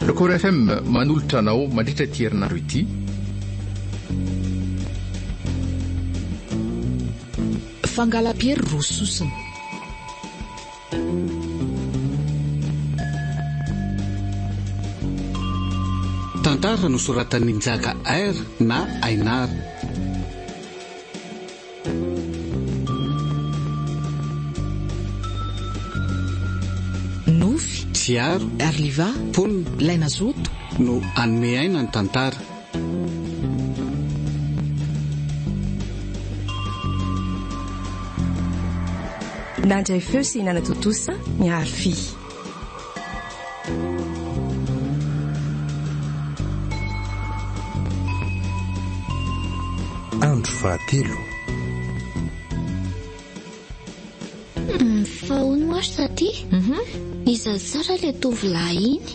Record FM manolotra anao mandritra ity herinandro ity. Fangalam-piery roa sosona. Tantara nosoratan'i Njaka Air na Ainar. Nofy, Fiaro, Arliva, Pony, Laina Zoto, no hanome aina ny tantara. Nandray feo sy nanatontosa ny harfy. Andro fahatelo. Fahaono moa ry taty? Iza tsara ilay tovolahy iny?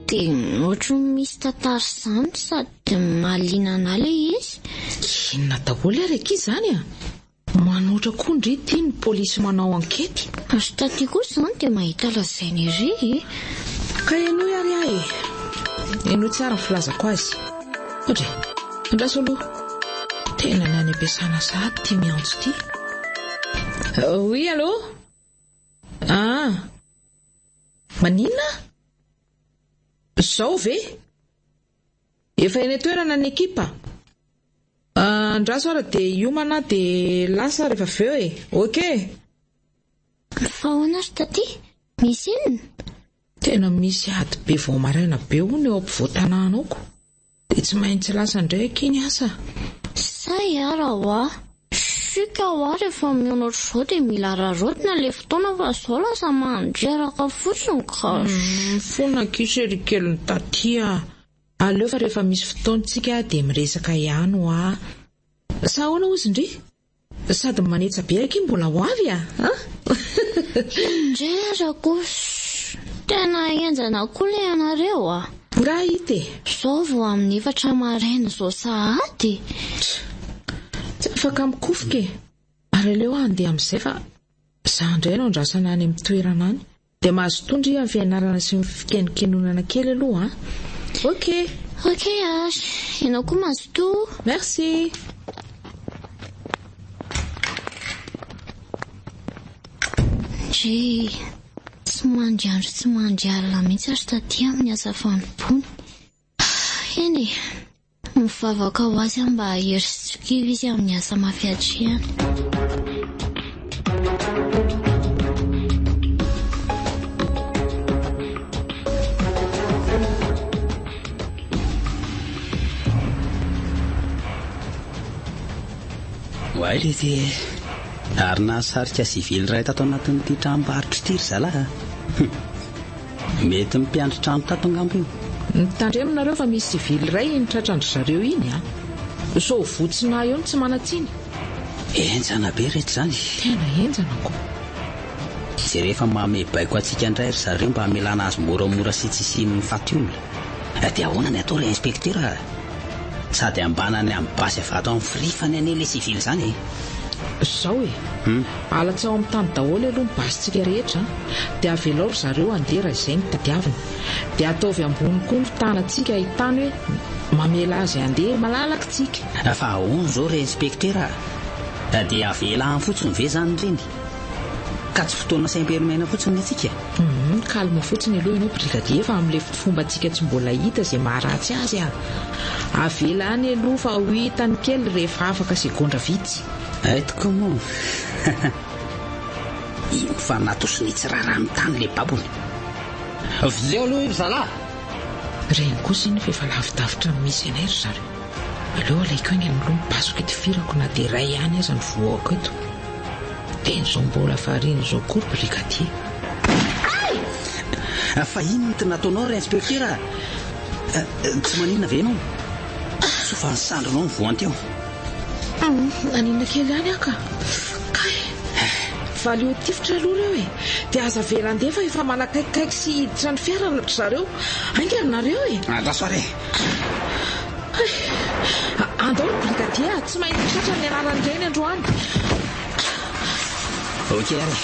Dia ohatry ny misy tantara izany sady mahaliana anà ilay izy. Inona daholo ary akia izany a? Manoatra koa ndry ity ny polisy manao ankety. Azo taty kosa izany dia mahita lazaina ery eh. Ka henoy ary aho e. Henoy tsara ny filazako azy. Ohatra e. Andraso aloha. Tena ny any am-piasana sahady ity miantso ity. Oui allô? Ah. Maninona? Zao ve? Efa eny an-toerana ny ekipa? Andraso ary dia hiomana dia lasa rehefa avy eo e! Ok! Fa ahoana ry Taty? Misy inona? Tena misy ady be vao maraina be hono eo ampovoan-tanàna ao ko! Dia tsy maintsy lasa indray akia ny asa! Sahy ara ho'a! Pfff ka hoa rehefa mihaona ohatr'izao dia mila araraotina ilay fotoana fa izao lasa mandreraka fotsiny gosh. Mifona akia chérie kelin'i Taty a! Aleo fa rehefa misy fotoantsika dia miresaka ihany hoa. Sa ahoana ozy ndry? Sady manetsa be akia mbola ho avy a! An! Indrindra kosa! Tena henjana koa ilay anareo a! Bright e! Zao vao amin'ny efatra maraina zao sahady? Tsy afaka mikofoka e! Ary aleo handeha amin'izay fa za indray no andrasana any amin'ny toerana any. Dia mazotoa ndry amin'ny fianarana sy ny fikenokenonana kely aloha an! Ok! Ok ary! Ianao koa mazotoa! Merci! Ndry! Tsy mandry andro tsy mandry alina mihitsy ary taty amin'ny asa fanompoany. Eny e! Mivavaka ho azy aho mba hahery sy tsy ho kivy izy amin'ny asa mafy hatrehany. Waility e! Ary nahasarika sivily iray tato anatin'ity tranombarotra ity ry zalahy a! Humm! Mety ny mpiandry trano tato angamba io. Mitandremo nareo fa misy sivily iray iny tratrandry zareo iny a! Sao votsinahy eo ny tsy manan-tsiny? Henjana be ry reto izany e! Tena henjana ko! Jereo fa manome baiko antsika indray ry zareo mba hamelana azy moramora sy tsy hisian'ny faty olona. Dia ahoana ny atao ilay inspektera a! Sady ambana any amin'ny basy avy ato amin'ny frifany anie ilay sivily izany e! Izao e! Alatsaho amin'ny tany daholo aloha ny basintsika rehetra an! Dia avelao ry zareo handeha raha izay no tadiaviny! Dia ataovy ambony koa ny tanantsika ahitany hoe mamela azy handeha malalaka tsika! Fa ahoana izao re inspektera a! Dia avela any fotsiny ve izany ireny? Ka tsy fotoana sahy be miaina fotsiny ny antsika e. Hum, calme fotsiny aloha ianao brigadier fa amin'ilay fombantsika tsy mbola hita izay maharatsy azy a. Avela any aloha fa ho hitany kely rehefa afaka segondra vitsy. Ait comment? Iny fa natosiny tsy raràny tany ilay babony. Veleo aloha ry zalahy! Reny kosa iny fa efa lavidavitra ny misy anay ry zareo. Aleo alaiko aingana aloha ny basiko itivirako na dia iray ihany aza ny voaoko eto. Dia ny jumbo lafarine izao koa brigadier. Hay! Fa inona ity nataonao ry inspektera a? Tsy maninona ve ianao? Sao fa ny sandrinao no voanty eo? Maninona kely ihany aho ka. Kay! Valio tifitra aloha ireo e! Dia aza avela handeha fa efa manakaikikaiky sy hiditra ny fiara ry zareo. Haingana nareo e! Andraso ary e! Andao ry brigadia a! Tsy maintsy tratra ny anaran'ireny androany! Ok ary!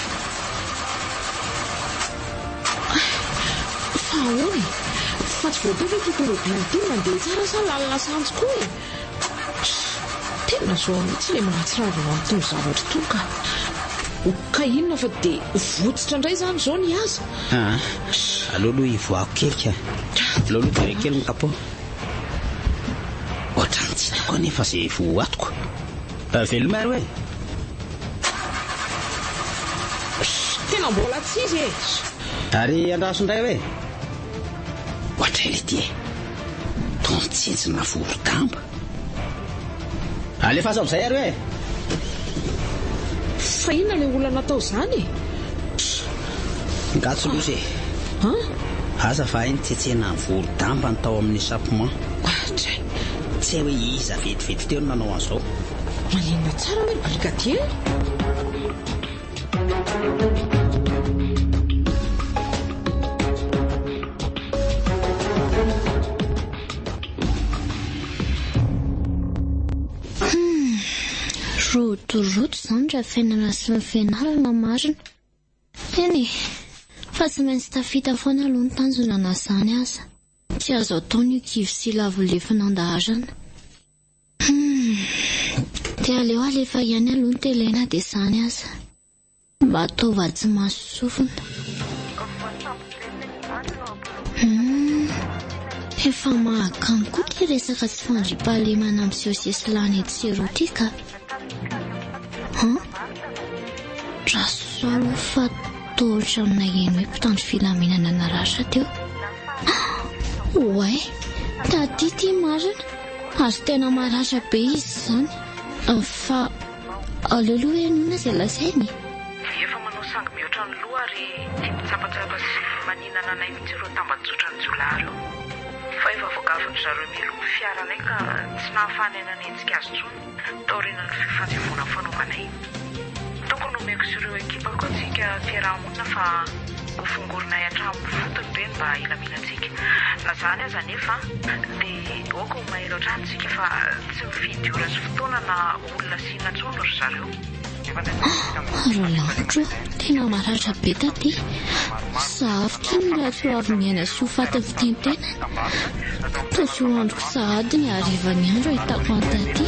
Fa ahoana e? Fa tsy voatao ve ity tomobily ity mandeha tsara sa lalina sahantsy koa e? Tena zao mihitsy ilay mahatsiravina an'itony zavatra itony ka! Ka inona fa dia votsitra indray izany izao ny azy? Aa aleo aloha hivoahako kely ka. Aleo aloha jereko kely ny capot. Ohatrany tsy hitako anefa izay voatoko. Veloma ary hoe. Tena mbola tsy izy e! Ary andraso indray hoe. Ohatray ilay ity e. Toa mitsinjina voro-damba. Alefaso amizay ary hoe. Fa inona ilay olona natao izany e? Pff! Nga tsy loza e. An? Aza fa hay ny tsetsena ny volo damba ny tao amin'ny chapement. Atra! Tsy hay hoe iza vetivety teo no nanao an'izao. Maninona tsara ilay brigadier? Rodorodo izany raha fiainana sy ny fianarana marina. Eny e, fa tsy maintsy tafita foana aloha ny tanjona na izany aza. Tsy azo atao ny ho kivy sy lavo lefona an-daharana. Humm. Dia aleo alefa ihany aloha ny télé na dia izany aza. Mba ataovy atsy maso sofina. Humm. Efa mahakamo koa ity resaka tsy fandriampahalemana miseho sesilany etsy sy eroa ity ka. Huh? Dra sao aloha fa toa ohatran'ny naheno hoe mpitandro filaminana naratra teo. Oay! Taty ity marina. Ary tena maratra be izy izany. Fa aleo aloha hoe inoana izay lazainy e! Dia efa manao sangy mihoatra ny loha ary tia mitsapatsapa sy maninana anay mihitsy ireo tambajotran'ny jiolahy ireo. Fa efa voagafin'dry zareo mialoha ny fiaranay ka tsy nahafahanay nanenjika azy intsony. Taorian'ny lofy fanjevoana fanaovana iny, tokony homeko sy ireo ekipako antsika fiaraha-monina fa hofongorinay hatramin'ny fotony ve ny mba hilamilantsika. Na izany aza anefa, dia aoka ho mailo hatrany isika fa tsy mifidy ora sy fotoana na olona asiana intsony ry zareo. Ary lavitra ô, tena maratra be taty. Saharo kely ny lasoavin'aina sy ho faty fitentenana. Toa tsy ho androko sahady ny harivan'ny andro ahitako an'i taty.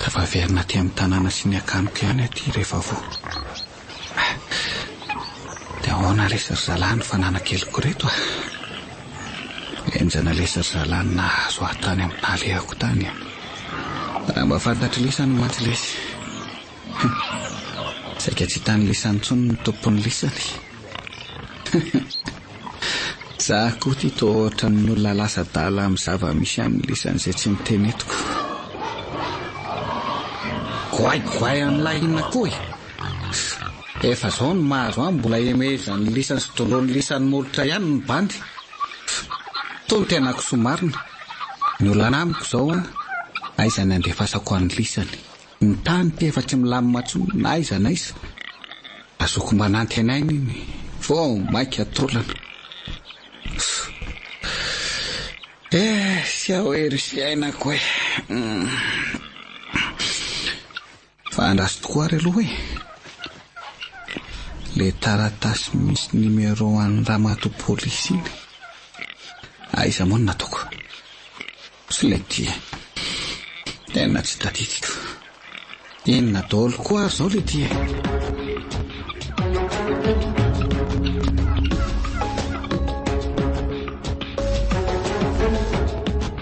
Tafaverina aty amin'ny tanàna sy ny akaniko ihany aty Revavo. Dia ahoana re sa ry zalahy ny fananankeliko reto a! Henjana lesy ry zalahy ny nahazo ahy tany amin'ny nahalehako tany a! Raha mba fantatr'i Lisa no maty lesy! Saika tsy hitan'i Lisa intsony ny tompon'ny lisany! Za koa ity toa ohatran'ny olona lasa adala amin'ny zava-misy an'ny lisany izay tsy nitenetiko! Goay goay an'ilay inona koa e! Efa zao ny mahazo an mbola hemezan'ny lisany sy dondron'ny lisany molotra ihany ny bandy. Toa ny tena kisoa marina. Ny olana amiko zao an, aiza ny andefasako an'ny lisany. Ny tany efa tsy milamina tsony na aiza na aiza. Azoko mba nantenaina iny vao maika taolana. Ehh, tsy aho hery sy iainako eh. Fa andraso tokoa ary aloha e! Ilay taratasy misy numéro an'i ramatoa polisy iny, aiza moa no nataoko? Tsy ilay ity e! Tena tsy tadidiko. Inona daholo koa ary izao ilay ity e!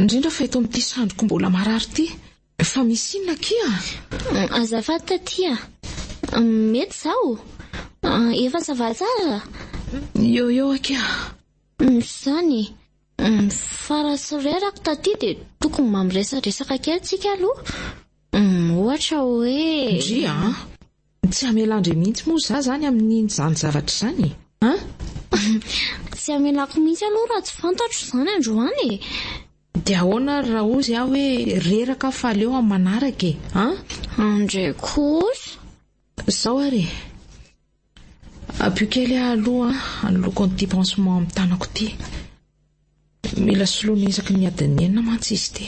Indrindra fa eto amin'ity sandriko mbola marary ity. Fa misy inona akia? Azafady taty a! Mety zaho? Efa ça va tsara? Eo eo akia. Izany. Fa raha tsy reraka taty dia tokony mba miresadresaka kely tsika aloha. Ohatra hoe. Ndry a! Tsy hamela andre mihitsy moa za zany amininy zany zavatra zany e! An! Tsy hamelako mihitsy aloha raha tsy fantatro izany androany e! Dia ahoana ary raha hozy aho hoe reraka aho fa aleo amin'ny manaraka e! An! Andre kosa! Zao ary e! Ampio kely aho aloha hanoloako an'ity pansement amin'ny tanako ity. Mila soloina isaky ny adin'ny enina mantsy izy ity.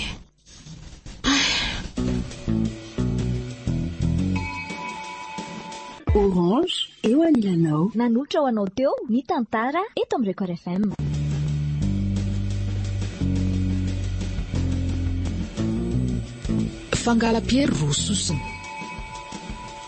Orange, eo anilanao. Nanolotra ho anao teo ny tantara eto amin'ny Record FM. Fangala-piery roa sosona.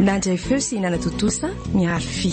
Nandray feo sy nanatontosa ny Arfy.